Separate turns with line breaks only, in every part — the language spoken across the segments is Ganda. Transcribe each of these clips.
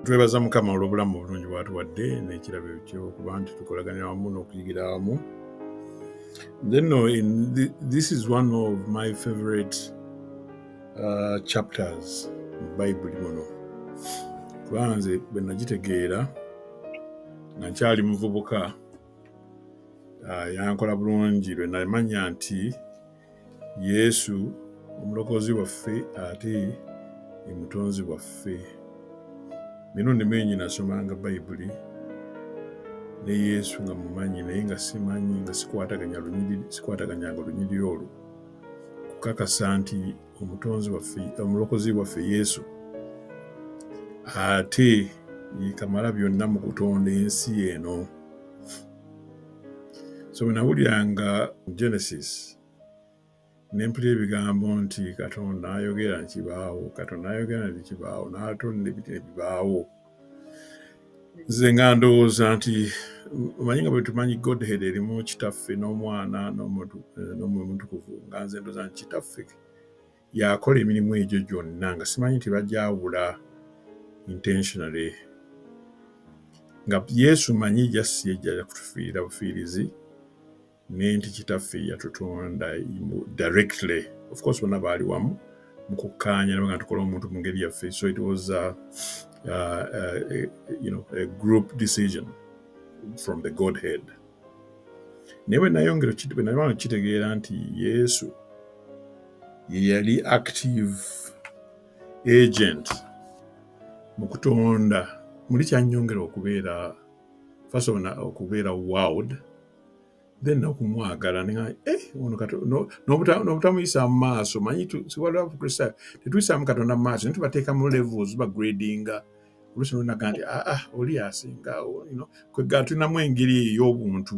twebaza mukama olw'obulamu obulungi bwatuwadde n'ekirabo ekyo okuba nti tukolaganya wamu n'okuyigira wamu then no, in the, this is one of my favorite uh, chapters mu bayibuli muno kuba nze bwe nagitegeera nakyali muvubuka ah, yankola bulungi lwe namanya nti yesu omulokozi waffe ate emutonzi waffe mirundi mingi nasomanga bayibuli ne yesu nga mumanyi naye nga simanyi nga sikwataganya lunyiriri sikwataganyanga olunyiriri olwo kukakasa nti omutonzi waffe omulokozi waffe yesu ate yekamala byonna mu kutonda ensi eno so bwenawuliranga genesis nempulira ebigambo nti katonda ayogera nti kibaawo katonda ayogera nti kibaawo n'atonda ebiti ne bibaawo nze nga ndowooza nti omanyi nga bwetumanyi godhead erimu kitaffe n'omwana n'omwoyo mutukuvu nga nze ndowooza nti kitaffe yakola emirimu egyo gyonna nga simanyi nti bajawula intentionally nga yesu manyi jasi yejjala kutufiirira bufiirizi ne nti kitaffe yatutonda directly of course bonna baali wamu mu kukkaanya nabaga tukola omuntu mu ngeri yaffe so it was a, a, a, a, you know, a group decision from the godhead naye bwe nayongera bwe nabanga kitegeera nti yesu ye yali active agent mu kutonda muli kyanyongera okubeera first of okubeera world then nokumwagala nga eh, ono kato- no- nobuta- nobutamuyisa mu maaso manyi tu- siwaliwo abakristaayo tetuyisaamu katonda mu maaso naye tubateeka mu levels bagradinga oluusi nonaga nti aa ah, oli asinga o- you know, kwe ga tulinamu engeri eyo ey'obuntu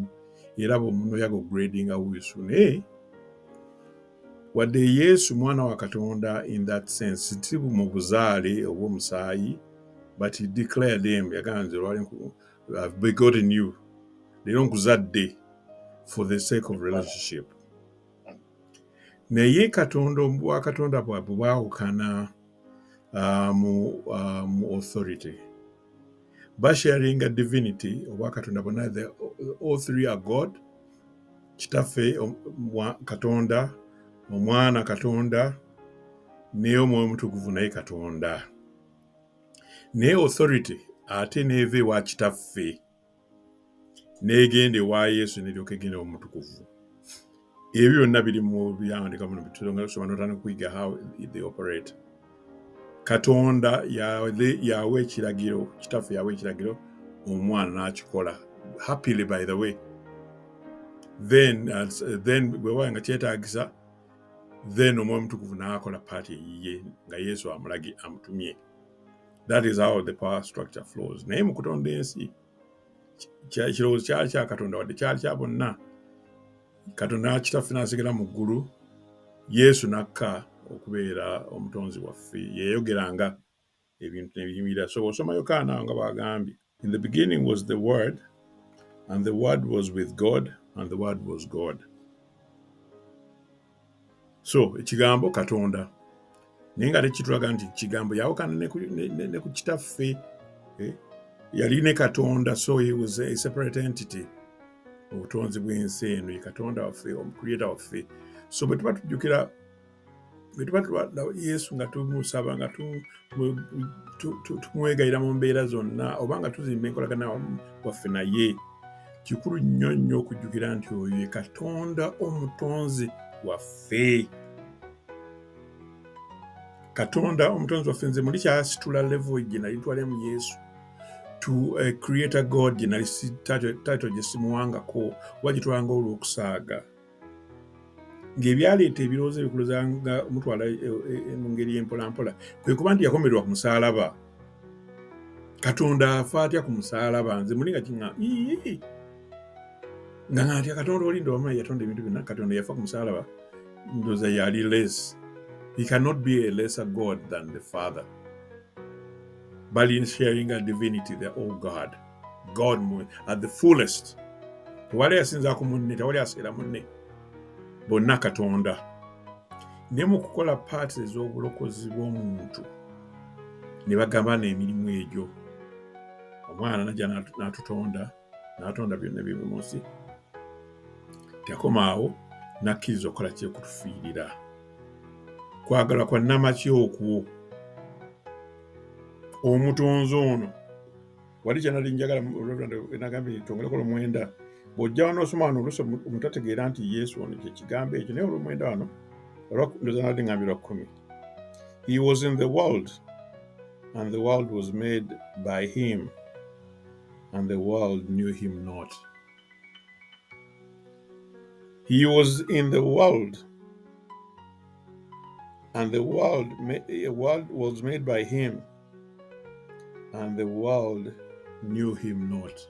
era bwomuntu oyaga ogradinga wisu naye wadde yesu mwana wa katonda in that sense si bu- mu buzaale obw'omusaayi but he declared him yagamba nze lwali nku- I've begotten you leero nkuzadde for the sake of relationship naye katonda obwa katonda bwabwe bwawukana uh, mu, uh, mu authority basharinga divinity obwa katonda bona the all three are god kitaffe katonda omwana katonda naye omwoyo omutukuvu naye katonda naye authority ate neeva ewa kitaffe negenda ewa yesu neryoka egenda omutukuvu ebyo byonna biri mu byawandika muno bitusobanotana okuyiga how they operate katonda yawa ekiragiro kitaffe yawa ekiragiro omwana n'akikola happily by the way then, uh, then bwewaba nga kyetagisa then omwoyo mutukuvu n'akola paati eyiye nga yesu amulagi amutumye that is how the power structure flows naye mu kutonda ensi ekirowoozo kyali kya katonda wadde kyali kya bonna katonda nakitaffe n'asigala mu ggulu yesu n'akka okubeera omutonzi waffe yeyogeranga ebintu nebiyimirira so bwosoma yokaana awo nga bwagambye in the beginning was the word and the word was with god and the word was god so ekigambo katonda naye nga tekitulaga nti kigambo yawukana ne ku kitaffe eh? yali ne katonda so he was a separate entity obutonzi bw'ensi eno ye katonda waffe omucreata waffe so bwe tuba tujjukira bwe tuba tulwala yesu nga tumusaba nga tumwegayira mu mbeera zonna oba nga tuzimba enkolagana waffe naye kikulu nnyo nnyo okujjukira nti oyo ye katonda omutonzi waffe katonda omutonzi waffe nze muli kyasitula levo gye nali twalemu yesu to a creator god gye nali title gye simuwangako oba gye twanga olw'okusaaga ng'ebyaleeta ebirowoozo ebikuluza nga mutwala e, e, e, mu ngeri empolampola kwe kuba nti yakomererwa ku musaalaba katonda afa atya ku musaalaba nze muli nga kiŋa nga ngatya katonda olinda omanyi yatonda ebintu byonna katonda yafa ku musaalaba ndoza yali les he cannot be a lesser god than the father bali sharing a divinity the all god god mu at the fullest tewali yasinza ku munne tewali aseera munne bonna katonda ne mu kukola paati ez'obulokozi bw'omuntu ne bagabana emirimu egyo omwana najja n'atutonda n'atonda byonna byebi mu nsi tekoma awo nakkiriza okukola kyekutufiirira kwagala kwa namaki okwo omutonzi ono wali kyenali njagala nagambye nti twongereko olumwenda bw'ojja wano osoma wano oluusi omutategeera nti yesu ono kyekigambo ekyo naye olumwenda wano ndoza nali ngambi lwa kkumi he was in the world and the world was made by him and the world knew him not he was in the world and the world, the world was made by him and the world knew him not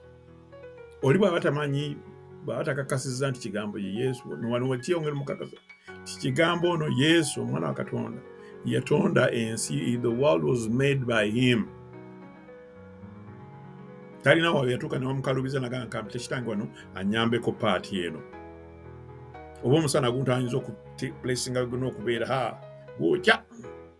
oli bwaba tamanyi bwaba takakasiza nti kigambo ye yesu wano wakyeyongera mukakasa ti kigambo ono yesu omwana wa katonda yatonda ensi the world was made by him talina wawe yatuuka newamukalubiza nagamba nkambi tekitange wano anyambeko paati eno oba omusana guntu ayinza okuplacinga gona okubeera ha gwokya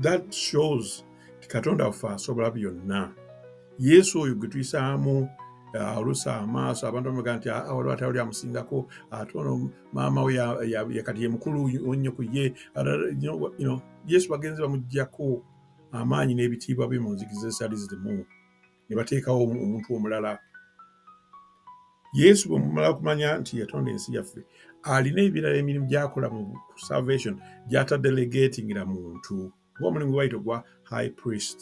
that shows nti katonda waffe asobola byonna yesu oyo gwe tuyisaamu uh, olusa amaaso abantu bamaga nti ah, waliwo atali oli amusingako ate ah, ono maama we yakati yemukulu nnyo ku ye yesu bagenzi bamugjako amaanyi n'ebitiibwa bye mu nzikiriza esaali zirimu ne bateekawo omuntu omulala yesu bwe mumala kumanya nti yatonda ensi yaffe alina ebirala emirimu gyakola mu salvation gyatadelegatingira muntu oba omulimu gwebayita ogwa high priest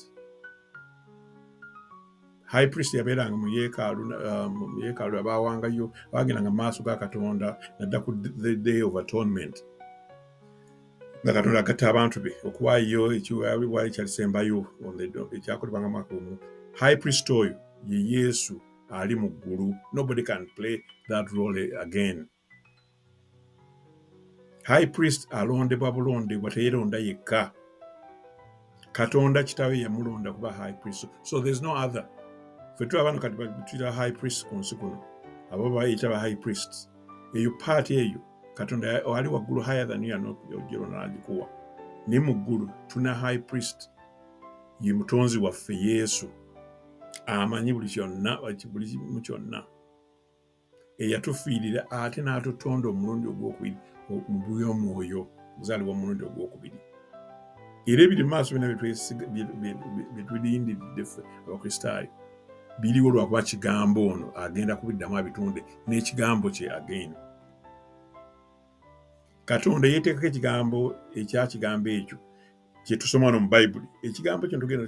high priest yabeeranga mu yeekaalu um, mu yeekaalu abaawangayo baagendanga mu maaso ga katonda nadda ku the day of atonement nga katonda agatta abantu be okuwaayo ekiwaayo kyalisembayo ekyakolebwa nga mwaka omu high priest oyo ye yesu ali mu ggulu nobody can play that role again high priest alondebwa bulondebwa teyeronda yekka katonda kitawe yamulonda kuba high priest so there's no other fe tuli abantu kati batuyita high priest ku nsi kuno abo bayita ba high priest eyo paati eyo katonda ali waggulu higher than you anojolo nagikuwa naye mu ggulu tuna high priest ye mutonzi waffe yesu amanyi buli kyonna buli kimu kyonna eyatufiirira ate n'atutonda omulundi ogwokubiri mu bwomwoyo muzaalibwa omulundi ogwokubiri era ebiri maaso byona byetulindidde ffe abakristaayo biriwo lwakuba kigambo ono agenda kubiddamu abitunde n'ekigambo kye agenda katonda eyeteekako ekigambo ekya kigambo ekyo kyetusoma no mu bayibuli ekigambo kino tugenda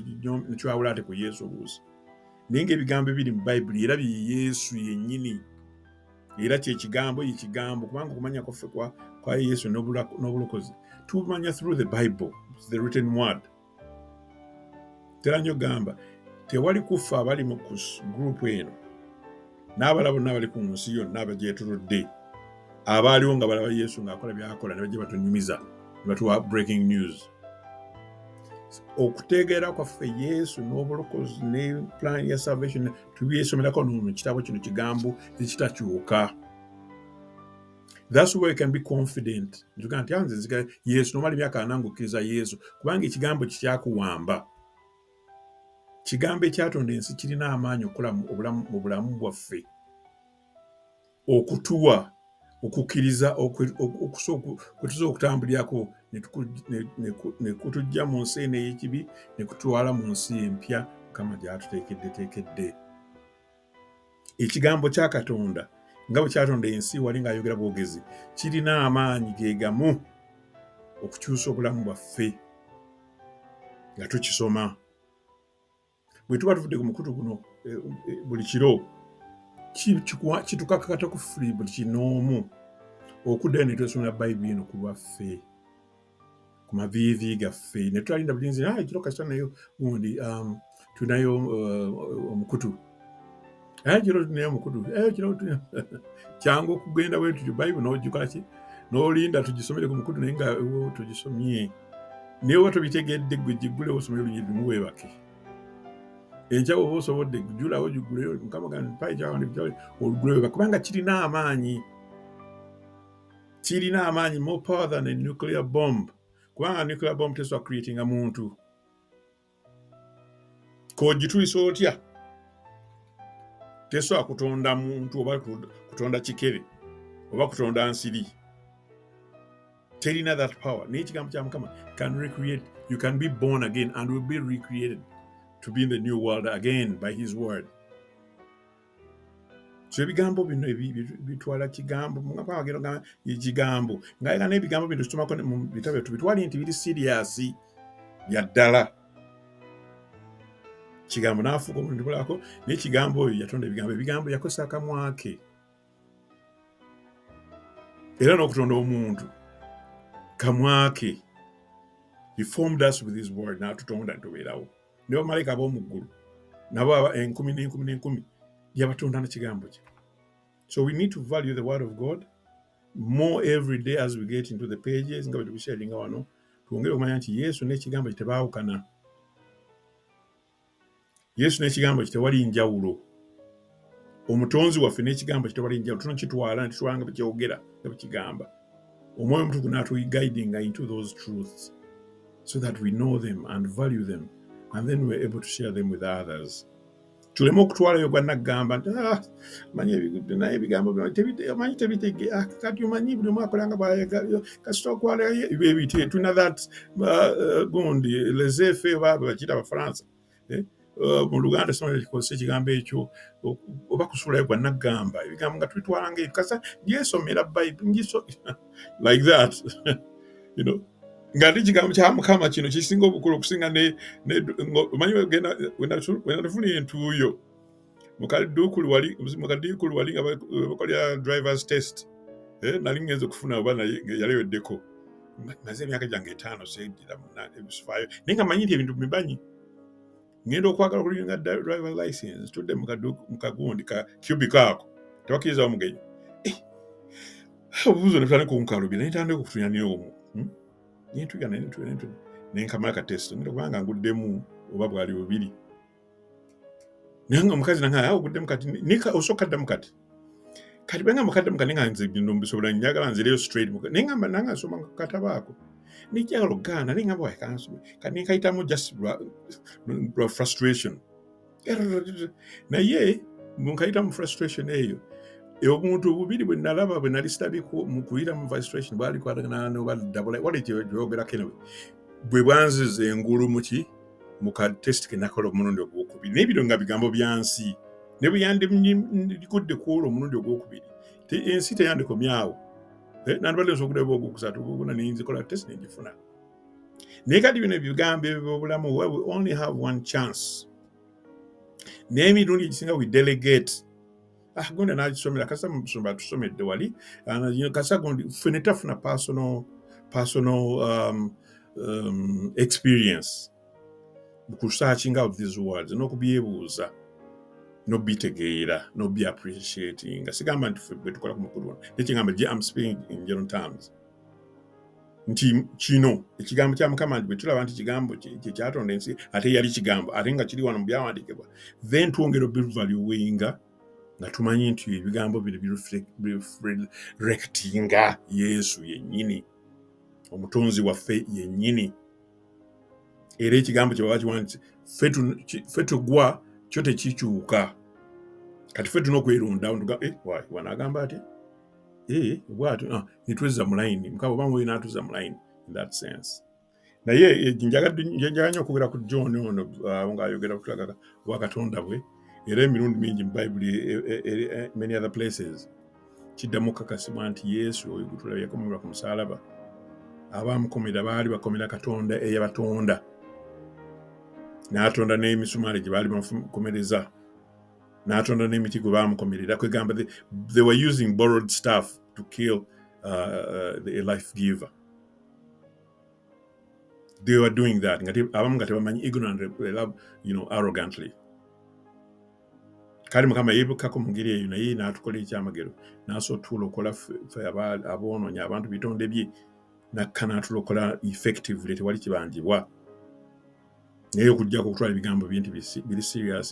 nekiwawula ate ku yesu obuusi naye nga ebigambo ebiri mu bayibuli era bye yesu yennyini era kyekigambo ye kigambo kubanga okumanya kwaffe kwa yesu n'obulokozi tumanya through the bible the written word tera nyo gamba tewali kuffa abali mu gurupu eno n'abala bonna abali ku nsi yonna abagyetuludde abaaliwo nga balaba yesu ng'akola byakola ne bajja batunyumiza ne batuwa breaking news okutegeera kwaffe yesu n'obulokozi ne plan ya salvation tubyesomerako nomu kitabo kino kigambo ekitakyuka That's where you can be confident. Njuga nti anze nzika Yesu nomali myaka anangu kiriza Yesu kubanga ekigambo kikyakuwamba. Kigambo ekyatonda ensi kirina amaanyi okukola mu bulamu bwaffe okutuwa okukkiriza kwetuza okutambulirako ne kutujja mu nsi eno ey'ekibi ne kutwala mu nsi empya mukama gy'atuteekeddeteekedde. ekigambo kya katonda nga bwe kyatonda ensi wali ng'ayogera bwogezi kirina amaanyi ge gamu okukyusa obulamu bwaffe nga tukisoma bwe tuba tuvudde ku mukutu guno eh, eh, buli kiro kitukakakata ku fuli buli kinoomu okuddayo ne twesomera bayibuli eno ku lwaffe ku maviivi gaffe ne tulalinda bulinzi naye ekiro kasita nayo gundi um, tulinayo uh, omukutu naye ekiro tulinayo omukutu eh, ekiro kyangu okugenda bwe tutyo bayibuli n'ojjuka ki n'olinda tugisomere ku mukutu naye nga tugisomye naye oba tobitegedde gwe giggulewo osomere olunyiri lumu weebake enkya oba osobodde gujulawo giguleyo mukama gandi mpaekyawandikyawe olugulewo kubanga kirina amaanyi kirina amaanyi more power than a nuclear bomb kubanga nuclear bomb tesobola creatinga muntu kogitulisa otya tesobola kutonda muntu oba kutonda kikere oba kutonda nsiri terina that power naye ekigambo kya mukama can recreate you can be born again and will be recreated to be in the new world again by his word so ebigambo bino bitwala kigambo mugenda ekigambo ngaera n'ebigambo bino tusomako mu bitabo byattu bitwale nti biri siriyasi bya ddala kigambo n'afuuka omuntu bulako naye kigambo oyo yatonda ebigambo ebigambo yakozesa akamwa ke era n'okutonda omuntu kamwa ke he formed us with his word n'atutonda ntubeerawo ne bamalayika ab'omu ggulu nabo aba enkumi n'enkumi n'enkumi yabatonda na kigambo kye so we need to value the word of god more every day as we get into the pages nga bwetubiseeringa wano twongere okumanya nti yesu n'ekigambo kye tebaawukana yesu n'ekigambo kye tewali njawulo omutonzi waffe n'ekigambo kye tewali njawulo tunakitwala ne kitwala nga bwekyogera nga bwekigamba omwoyo omutukuvu n'atuguidinga into those truths so that we know them and value them and then we're able to share them with others tuleme okutwalayo gwa naggamba nti ah, manyi ebigudde naye ebigambo manyi tebitege ah, kati omanyi buli omu akolanga bwayagala kasita okwalayo ebyo ebitye tulina that uh, uh, gundi lesefe oba bakiyita abafaransa eh, uh, mu luganda sibanga kikozesa ekigambo ekyo oba kusuulayo gwa naggamba ebigambo nga tubitwala nga ebikasa ngyesomera bayibuli ngiso like that you know nga ndi kigambo kya mukama kino kisinga obukulu okusinga omanyi wenatufuna entuuyo mukadukulu wali mukadukulu wali nga bakolera drivers test eh, nali ngenze okufuna oba naye yaleweddeko maze emyaka gyange etaano seddira munanebisufaayo naye nga manyi nti ebintu bimanyi ngenda okwagala okulinga driver license tudde mukagundi ka cubic ako tebakiriza omugenyi eh, obubuzo nebutane kunkalubira naye tandika okutunya naye omu hmm? nentuya nenkamala katesita kubanga nguddemu oba bwali bubiri naye nga omukazi nange awo oguddemu kati nika osooka addamu kati kati bwe ngamba kaddamu kati nga nze bino mbisobola njagala nzireyo straight naye ngamba nange asoma kataba ako nejjagala okugaana naye ngamba wakansoma kati nenkayitamu just lwa frustration naye nkayitamu frustration eyo e obuntu obubiri bwe nalaba bwe nali sitabiko mu kuyira mu frustration bwali kwatagana noba dabula wali kyogerako enawe bwe bwanziza engulu muki mu ka test ke nakola omulundi ogwokubiri naye bino nga bigambo bya nsi ne bwe yandigudde ku olwo omulundi ogwokubiri ensi teyandikomye awo eh, nandibadde nsobola okudaba ogwokusatu ogwokuna nenzikola test nengifuna naye kati bino ebigambo ebyo byobulamu we only have one chance n'emirundi egisinga we delegate ah, gundi anagisomera kasa musumba atusomedde wali ah, kasa gundi ffe netafuna personal, personal um, um, experience mukusakinga out these words n'okubyebuuza nobitegeera nobiappreciatinga sigamba nti ffe bwetukola ku mukulu ono nekyengamba je am speaking in general terms nti kino ekigambo kya mukama nti bwe tulaba nti kigambo kye kyatonda ensi ate yali kigambo ate nga kiri wano mu byawandiikibwa then twongera obivaluwinga nga tumanyi nti ebigambo bino birekitinga yesu yennyini omutonzi waffe yennyini era ekigambo kye baba kiwanditse ffe tugwa kyo tekikyuka kati ffe tuna okwerundawo eh, wanagamba ati eh, bwatyo ah, netwezza mu layini mukama obanga oli natuzza mu layini in that sense naye eh, njagala nyo okwogera ku john ono ah, nga ayogera kutulaga wa katonda bwe era emirundi mingi mu bayibuli eh, many other places kiddamu okukakasibwa nti yesu oyo gutulaba yakomerwa ku musalaba abaamukomera baali bakomera katonda eyabatonda n'atonda n'emisumaali gye baali bamukomereza n'atonda n'emiti gwe baamukomerera kwegamba they were using borrowed staff to kill uh, uh, the life giver they were doing that abamu nga tebamanyi ignorant you know, arrogantly kale mukama yeebukako mu ngeri eyo naye n'atukola ekyamagero n'asobola tulokola fe aboonoonyi abantu bitonde bye nakka n'atulokola effectively tewali kibanjibwa naye okujjako okutwala ebigambo bye nti biri serious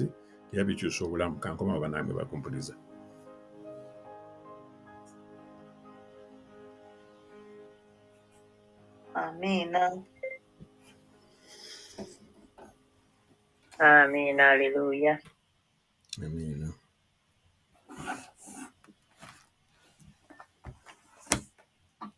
era bikyusa obulamu kankomawo banange bakumpuliza
amiina amiina aleluya
amiina